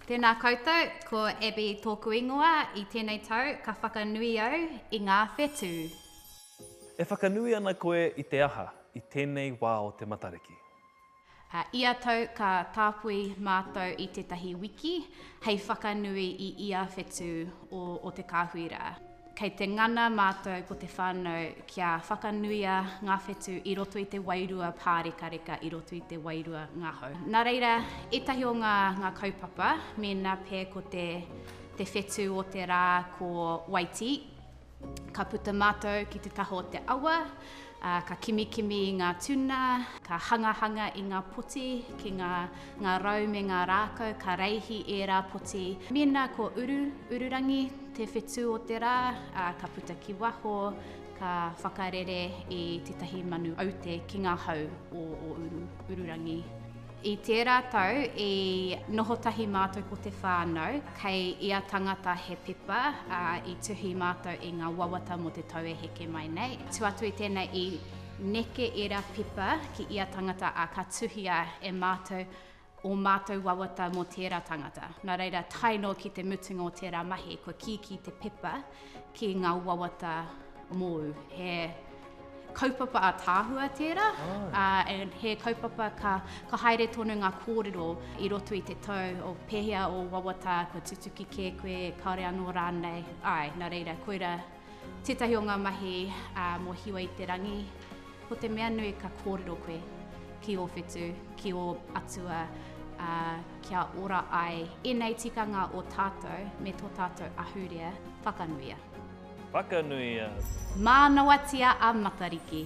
Tēnā koutou, ko Abbey tōku ingoa, i tēnei tau ka whakanui au i ngā whetū. E whakanui ana koe i te aha i tēnei wā o te Matariki? Ā, ia tau ka tāpui mātou i tētahi wiki hei whakanui i ia whetū o te kāhui rā. Kei te ngana mātou ko te whānau kia whakanuia ngā whetū i roto i te wairua pārekareka, i roto i te wairua ngahau. Nā reira, ētahi o ngā, ngā kaupapa, mēnā pē ko te, te whetū o te rā ko Waitī, ka puta mātou ki te taha o te awa, Ā, ka kimikimi i ngā tuna, ka hangahanga i ngā poti ki ngā, ngā rau me ngā rākau, ka reihi ērā poti. Mēnā ko Uru, Ururangi, te whetū o te rā, ā, ka puta ki waho, ka whakarere i tētahi manu aute ki ngā hau o, o Uru, Ururangi. I tērā tau i noho tahi mātou ko te whānau, kei ia tangata he pepa, ā, i tuhi mātou i ngā wawata mō te tau e heke mai nei. Tū atu i tēnei i neke ērā pepa ki ia tangata, ā, ka tuhia e mātou ō mātou wawata mō tērā tangata. Nā reira, tae noa ki te mutunga o tērā mahi, kua kīkī te pepa ki ngā wawata mōu. He kaupapa ataahua tērā, ā, and he kaupapa ka, ka haere tonu ngā kōrero i roto i te tau o pēhea ō wawata, kua tutuki kē koe, kāore anō rānei, āe, nā reira, koira tētahi o ngā mahi ā, mō Hiwa i te Rangi. Ko te mea nui ka kōrero koe ki ō whetū, ki ō atua, ā, kia ora ai ēnei tikanga o tātou me tō tātou ahurea, whakanuia. Whakanuia. Mānawatia a Matariki.